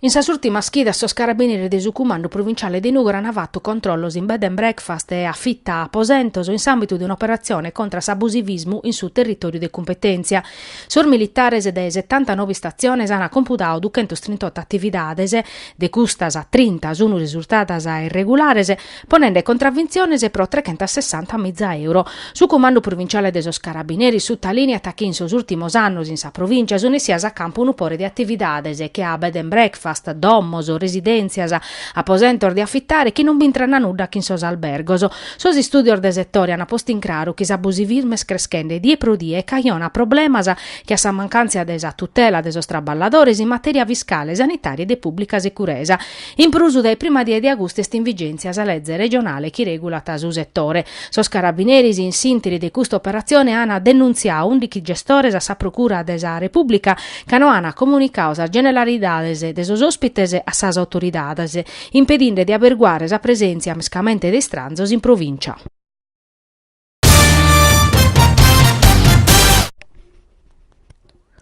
In sas ùrtimas chidas sos carabineris de su Cumandu Pruvinciale de Nùgoro ant fatu controllos in bed and breakfast e afita aposentos in s'àmbitu de un'operatzione contra s'abusivismu in su territòriu de cumpetèntzia. Sos militares dae setantanoe istatziones ant compudadu duchentos trintotto atividades, de custas trinta sunt risurtadas irregulares, ponende contravintziones pro trechentasessanta miza euro. Su Cumandu Provinciale de sos Carabineris sutalìniat chi in sos ùrtimos annos in sa provìntzia sunt essias a campu unu pore de atividades che a bed and breakfast, domos, residèntzias, aposentos de afitare chi non b'intran a nudda chin sos albergos. Sos istùdios de setore ant postu in craru chi s'abusivismu est creschende die pro die e cajonat problemas che a sa mancàntzia de sa tutela de sos traballadores in matèria fiscale, sanitària e de pùblica securesa. In prus, dae prima die de agustu est in vigèntzia sa lege regionale chi regulat su setore. Sos carabineris in s'interi de custa operatzione ana denuntziadu ùndichi gestores a sa Procura de sa Repùblica ca no ana comunicadu sas generalidades de sos òspites a sas autoridades, impedinde de aberguare sa presèntzia mescamente de istranzos in provìncia.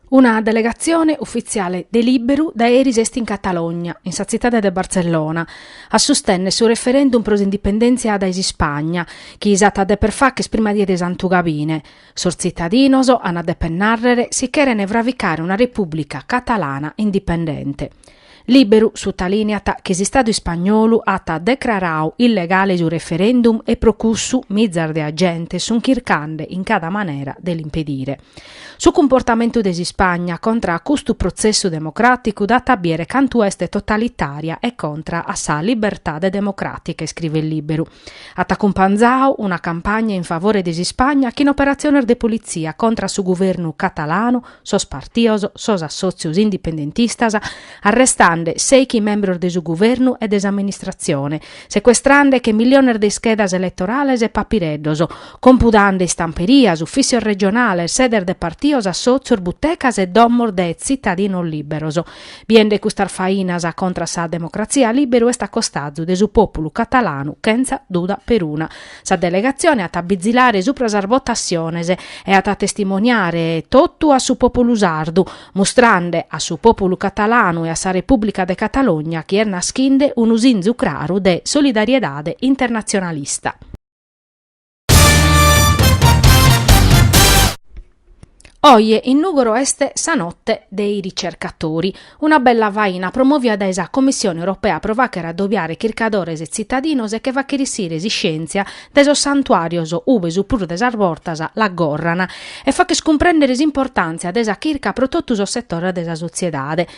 Una delegatzione ufitziale de Lìberu dae eris est in Catalogna, in sa tzitade de Bartzellona, a sustènnere su referèndum pro s'indipendèntzia dae s'Ispagna, chi s'at a dèpere fàghere sa prima die de Santu Gabine. Sos tzitadinos ant a dèpere nàrrere si chèrene fravicare una repùblica catalana indipendente. Lìberu sutalìniat chi s'Istadu ispagnolu at decraradu illegale su referendum e pro cussu mizas de agentes sunt chircande in cada manera de l'impedire. Su cumportamentu de s'Ispagna contra a custu protzessu democràticu dat a bìere cantu est totalitària e contra a sa libertade democràtica, iscrivet Lìberu. At acumpanzadu una campagna in favore de s'Ispagna chin operatziones de politzia contra a su guvernu catalanu, sos partios, sos assòtzios indipendentistas, arrestande sèichi membros de su guvernu e de s'amministratzione, secuestrande deche milliones de ischedas eletorales e papireddos, compudande istamperias, ufìtzios regionales, sedes de partios, assòtzios, butecas e domos de tzitadinos lìberos. Biende custas fainas contra sa democratzia Lìberu est a costazu de su pòpulu catalanu chentza duda peruna. Sa delegatzione at a bizilare supra sas votatziones e at a testimoniare totu a su pòpulu sardu, mustrande a su pòpulu catalanu e a sa Repùblica de Catalogna chi est naschinde unu sinzu craru de solidariedade internatzionalista. Oje in Nùgoro est sa notte dei ricercatori, una bella faina promovia dae sa Commissione Europea pro fàghere adobiare chircadores e tzitadinos e che fàghere essire s'iscièntzia dae sos santuàrios ube su prus de sas bortas l'aggorran e fàghere cumprèndere s'importàntzia de sa chirca pro totu sos setores de sa sotziedade.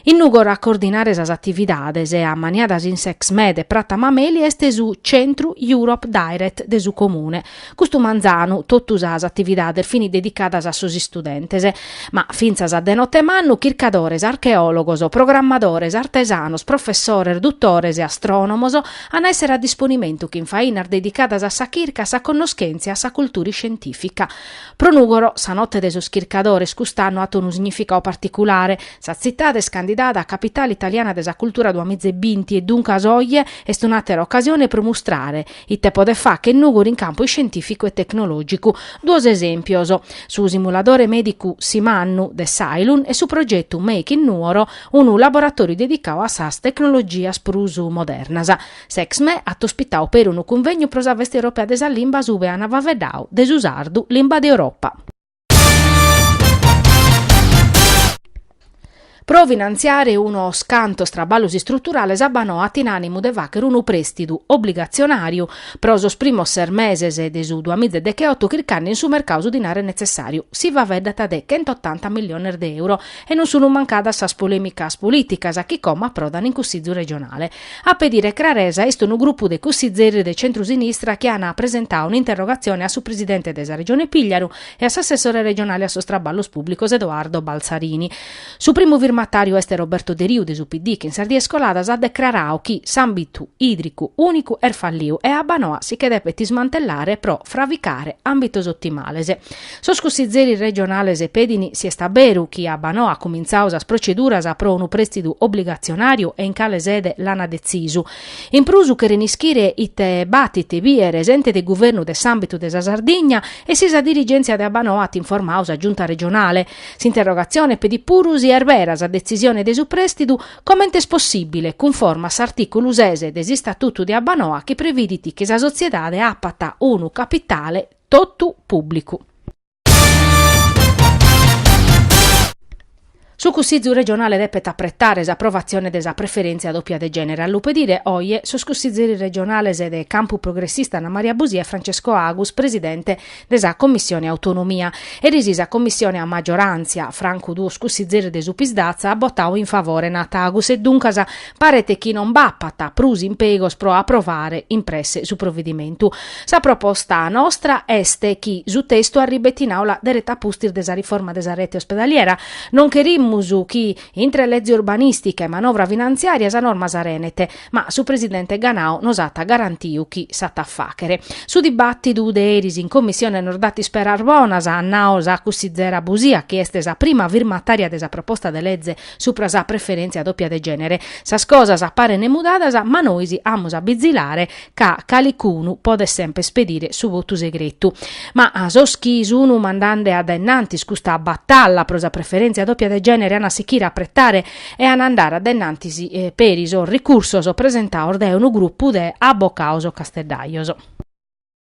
In Nùgoro a coordinare sas atividades e a maniadas in s'Exme e Prata Mameli est su Centru Europe Direct de su Comune. Custu manzanu totu sas atividades fini dedicadas a sos istudentes. Ma fintzas a de note mannu chircadores, archeòlogos, programmadores, artesanos, professores, dutores e astrònomos an a èssere a disponimentu chin fainas dedicadas a sa chirca, a sa connoschèntzia e a sa cultura iscientìfica. Pro Nùgoro sa Note de sos Chircadores cust'annu at unu significadu particulare. Sa tzitade est candidada a Capitale italiana de sa cultura duamize binti e duncas oje est un'àtera ocasione pro mustrare ite podet fàchere Nùgoro in campu iscientìficu e tecnològicu. Duos esèmpios, su simuladore mèdicu Simannu de s'Ailun e su progetu Make in Nuoro, unu laboratòriu dedicadu a sas tecnologias prus modernas. S'Exme at ospitadu peri unu cunvegnu pro sa Festa Europea de sa Limbas ube ana faeddadu de su sardu, limba de Europa. Pro finantziare unos cantos traballos istruturales Abbanoa at in ànimu de fàghere unu prèstidu obligatzionàriu pro sos primos ses meses de su duamìgia degheoto chircande in su mercadu su dinare netzessàriu. Si faeddat de chentotanta milliones de euro e non sunt mancadas sas polèmicas polìticas chi como aprodant in Cussìgiu regionale. A pedire craresa est unu grupu de cussizeri de centru-sinistra chi an presentau un'interrogatzioni a su presidente de sa Regione Pìgliaru e a s'assessore regionale a sos Traballos Pùblicos Edoardo Balzarini. Su primu firmatàriu est Roberto Deriu de su PD chi in sas dies coladas at decrarau chi s'àmbitu ìdricu ùnicu est falliu e Abbanoa si che depet ismantellare pro frabicare àmbitos otimales. Sos cussizzeris regionales pedin si est a beru chi Abbanoa at cumintzau sas proceduras pro unu prèstidu obligatzionàriu e in cale sede l'ana detzisu. In prus cheren ischire ite b'at de bìere s'ente de guvernu de s'àmbitu de sa Sardigna e si sa dirigèntzia de Abbanoa at informau sa Giunta regionale. S'interrogatzione pedit puru si est bera sa detzisione de su prèstidu comente est possìbile cunforma a s'artìculu ses de s'Istatutu de Abbanoa chi previdit chi sa sotziedade apat unu capitale totu pùblicu. Su Cussìgiu regionale depet apretare s'aprovatzione de sa preferèntzia dòpia de gènere, a lu pedire oje sos cussìgeris regionales de Campu Progressista Anna Maria Busia e Francesco Agus, presidente de sa Commissione Autonomia. Eris sa Commissione a magioràntzia, francu duos cussìgeris de su Psd'Az, at botadu in favore, nat Agus, e duncas paret chi non b'apat prus impegos pro aprovare in presse su provedimentu. Sa proposta nostra est chi su testu arribet in Àula dereta a pustis de sa riforma de sa rete ospedaliera. Non cherimus chi, intre lege urbanìstica e manovra finantziària, sa norma s'arenet, ma su presidente Ganau nos at garantiu chi s'at a fàghere. Su dibàtidu de eris in Commissione nos dat isperas bonas, at nau sa cussizera Busia, chi est sa prima firmatària de sa proposta de lege Supra sa preferèntzia dòpia de gènere, sas cosas parent mudadas ma nois amus a bizilare ca calicunu podet semper ispedire su votu segretu. Ma sos chi sun mandande a dae innantis custa batalla pro sa preferèntzia dòpia de gènere an a sichire a pretare e an a andare a dae innantis peri sos ricursos presentados dae unu grupu de abocados casteddajos.